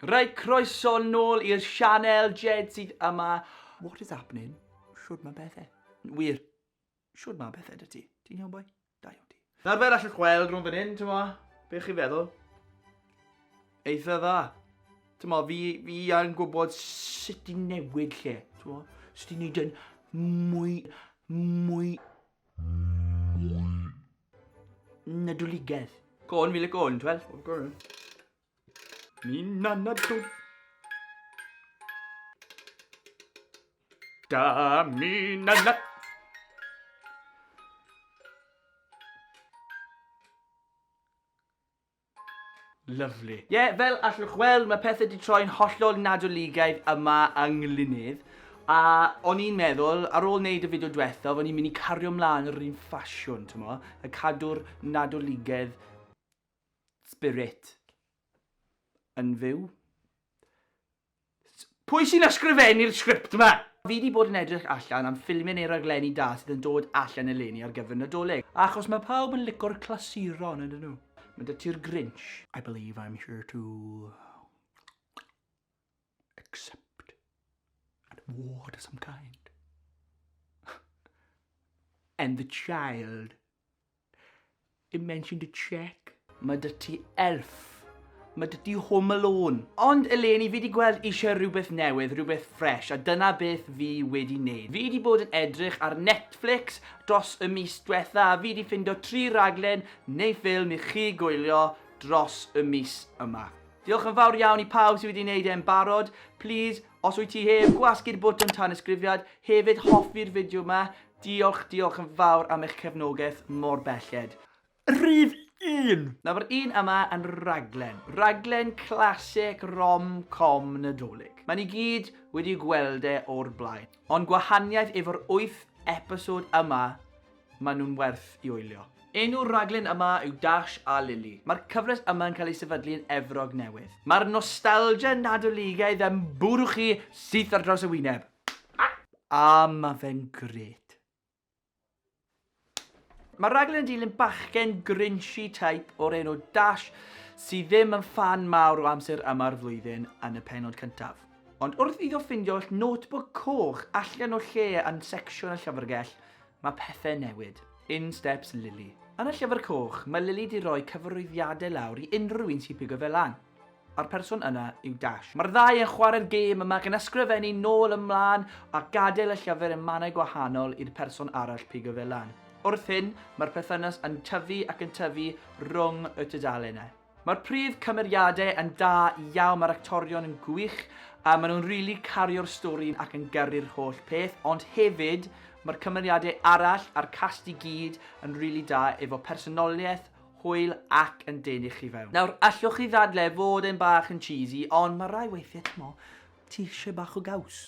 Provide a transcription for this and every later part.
Reit croeso nôl i'r sianel, Jed sydd yma. What is happening? Shwd mae bethe? Wir, shwd mae bethe dy ti? Ti'n iawn boi? Da iawn ti. Nawr fel allwch weld rhwng fan hyn, ti'n mo, beth chi'n feddwl? Eitha dda. Ti'n mo, fi, fi yn gwybod sut i newid lle, ti'n mo? Sut i wneud yn mwy, mwy... Mwy... Nadoligedd. Gôn, fi le gôn, twel? Gôn. Ni'n anadl. Da mi'n anadl. Lovely. Ie, yeah, fel allwch weld, mae pethau wedi troi'n hollol nadoligaidd yma yng Nglynydd. A o'n i'n meddwl, ar ôl wneud y fideo diwethaf, o'n i'n mynd i cario mlaen yr un ffasiwn, ti'n mo? A cadw'r nadoligedd Spirit. Yn fyw. Pwy sy'n ysgrifennu'r sgript yma? Fi wedi bod yn edrych allan am ffilmiau neu raglenni da sydd yn dod allan eleni ar gyfer Nadolig. Achos mae pawb yn lico'r clasuron, ydyn nhw? Mae 'da ti'r Grinch. I believe I'm here to... Except an award of some kind. And the child. It mentioned a check. Mae dy ti elf. Mae dy ti home alone. Ond eleni fi wedi gweld eisiau rhywbeth newydd, rhywbeth ffres, a dyna beth fi wedi wneud. Fi wedi bod yn edrych ar Netflix dros y mis diwetha a fi wedi ffindo tri raglen neu ffilm i chi gwylio dros y mis yma. Diolch yn fawr iawn i pawb sydd wedi wneud e yn barod. Plîs, os wyt ti heb, gwasgu'r bwtwn tanysgrifiad, hefyd hoffi'r fideo yma. Diolch, diolch yn fawr am eich cefnogaeth mor belled. Rhif un! Nawr mae'r un yma yn raglen. Raglen classic rom-com Nadolig. Mae ni gyd wedi gweld e o'r blaen. Ond gwahaniaeth efo'r wyth episode yma Maen nhw'n werth i wylio. Enw'r rhaglen yma yw Dash a Lili. Mae'r cyfres yma yn cael ei sefydlu yn Efrog Newydd. Mae'r nostalgia Nadoligaidd yn bwrw chi syth ar draws y wyneb. A mae fe'n grêt. Mae'r rhaglen yn dilyn bachgen grinchy type o'r enw Dash sydd ddim yn ffan mawr o amser yma'r flwyddyn yn y pennod cyntaf. Ond wrth iddo ffindio notebook coch allan o lle yn secsiwn y llyfrgell, Mae pethe'n newid. In steps Lily. Yn y Llyfr Coch, mae Lily 'di roi cyfarwyddiadau lawr i unrhyw un sy'n pigo fe lan. A'r person yna yw Dash. Mae'r ddau yn chwarae'r gêm yma gan ysgrifennu nôl a mlaen a gadael y llyfr yn mannau gwahanol i'r person arall pigo fe lan. Wrth hyn, mae'r perthynas yn tyfu ac yn tyfu rhwng y tudalenau. Mae'r prif cymeriadau yn da iawn, mae'r actorion yn gwych, a maen nhw'n rili really cario'r stori ac yn gyrru'r holl peth, ond hefyd mae'r cymeriadau arall a'r cast i gyd yn rili really da efo personoliaeth, hwyl ac yn denu chi fewn. Nawr, allwch chi ddadle fod e'n bach yn cheesy, ond mae rai weithiau, t'mo, ti eisiau bach o gaws.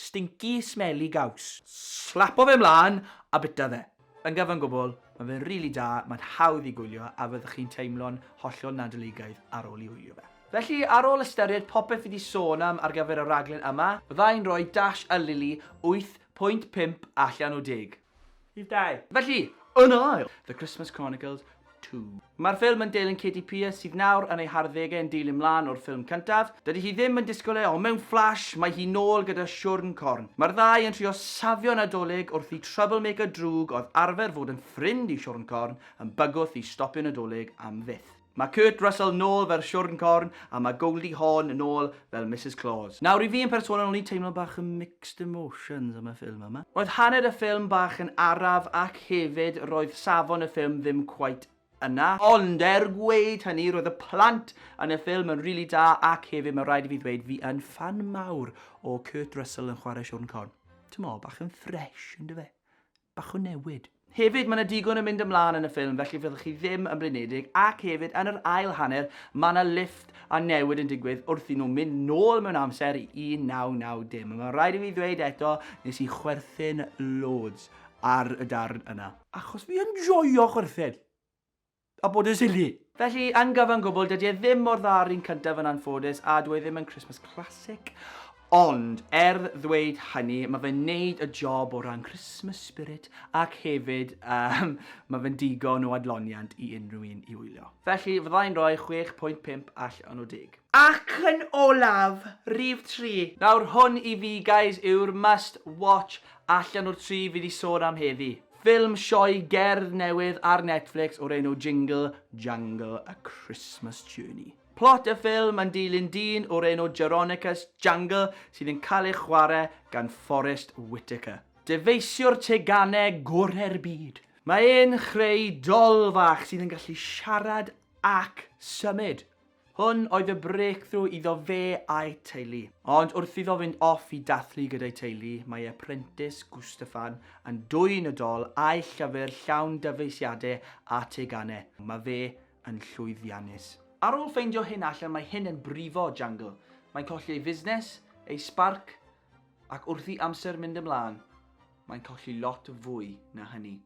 Stinky smelly gaws. Slapo fe mlan a bita fe. Yn gyfan gwbl, mae fe'n rili da, mae'n hawdd i gwylio a fyddwch chi'n teimlo'n hollol nadoligaidd ar ôl i wylio fe. Felly, ar ôl ystyried popeth fi 'di sôn am ar gyfer y rhaglen yma, fydda i'n rhoi Dash a Lily 8.5 allan o 10. Rhif dau. Felly, yn ail, The Christmas Chronicles Two. Mae'r ffilm yn deilwng Katie Pierce sydd nawr yn ei harddegau yn dilyn mlaen o'r ffilm cyntaf. Dydy hi ddim yn disgwyl e, ond mewn fflash, mae hi nôl gyda siwrn corn. Mae'r ddau yn trio safio Nadolig wrth i troublemaker drwg oedd arfer fod yn ffrind i siwrn corn yn bygwth i stopio Nadolig am fyth. Mae Kurt Russell nôl fel Siwrn Corn a mae Goldie Hawn nôl fel Misus Claus. Nawr, i fi yn personol, o'n i'n teimlo bach yn mixed emotions am y ffilm yma. Roedd hanner y ffilm bach yn araf ac hefyd roedd safon y ffilm ddim cweit yna. Ond er gweud hynny, roedd y plant yn y ffilm yn rili da ac hefyd mae rhaid i fi ddweud fi yn ffan mawr o Kurt Russell yn chwarae Siwrn Corn. Timod, bach yn fresh, yndyfe? bach o newid. Hefyd, mae yna digon yn mynd ymlaen yn y ffilm felly fyddwch chi ddim yn blinedig ac hefyd yn yr ail hanner mae yna lifft a newid yn digwydd wrth i nhw mynd nôl mewn amser i 1990 a mae'n rhaid i fi ddweud eto nes i chwerthin loads ar y darn yna achos fi yn joio chwerthin! a bod yn silly. Felly, yn gyfan gwbl, dydy e ddim mor dda â'r un cyntaf yn anffodus, a dyw e ddim yn Christmas classic. Ond, er ddweud hynny, mae fe'n neud y job o ran Christmas spirit ac hefyd um, mae fe'n digon o adloniant i unrhyw un i wylio. Felly, fyddai'n rhoi 6.5 allan o 10. Ac yn olaf, rhif 3. Nawr, hwn i fi, guys, yw'r must watch allan o'r tri fi 'di sôn am heddi. Ffilm sioe gerdd newydd ar Netflix o'r enw Jingle Jangle A Christmas Journey. Plot y ffilm yn dilyn dyn o'r enw Jeronicus Jangle sydd yn cael ei chwarae gan Forest Whitaker, dyfeisiwr teganau gorau'r byd. Mae e'n chreu dol fach sydd yn gallu siarad ac symud. Hwn oedd y breakthrough iddo fe a'i teulu. Ond wrth iddo fynd off i dathlu gyda'i teulu, mae ei apprentice, Gustafan, yn dwyn y dol a'i llyfr llawn dyfeisiadau a teganau. Mae fe yn llwyddiannus. Ar ôl ffeindio hyn allan mae hyn yn brifo Jangle. Mae'n colli ei fusnes, ei sbarc, ac wrth i amser mynd ymlaen, mae'n colli lot fwy na hynny.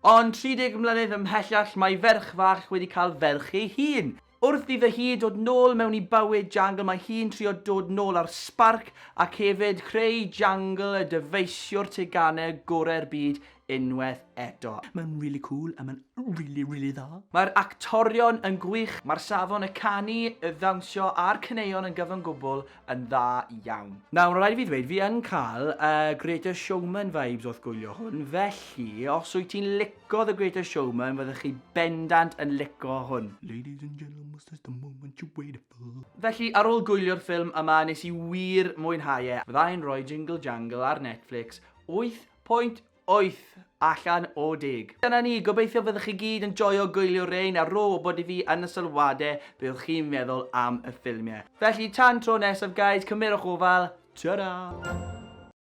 Ond 30 mlynedd ymhellach mae ferch fach wedi cael ferch ei hun. Wrth iddo hi dod nôl mewn i bywyd Jangle mae hi'n trio dod nôl â'r sbarc ac hefyd creu Jangle y dyfeisiwr teganau gorau'r byd unwaith eto. Mae'n rili cŵl a mae'n rili rili dda. Mae'r actorion yn gwych, mae'r safon, y canu, y ddawnsio a'r caneuon yn gyfan gwbl yn dda iawn. Nawr, rhaid i fi ddweud, fi yn cael uh, Greatest Showman vibes wrth gwylio hwn, felly, os wyt ti'n lico The Greatest Showman, fyddwch chi bendant yn lico hwn. Ladies and gentlemen, this is the moment you waited for. Felly, ar ôl gwylio'r ffilm yma, nes i wir mwynhau e. Fyddai'n rhoi Jingle Jangle ar Netflix 8.8 wyth allan o deg. Dyna ni, gobeithio fyddwch chi gyd yn joio gwylio rein a rho wybod i fi yn y sylwade be oedd chi'n meddwl am y ffilmiau. Felly tan tro nesaf guys, cymerwch ofal, ta-ra!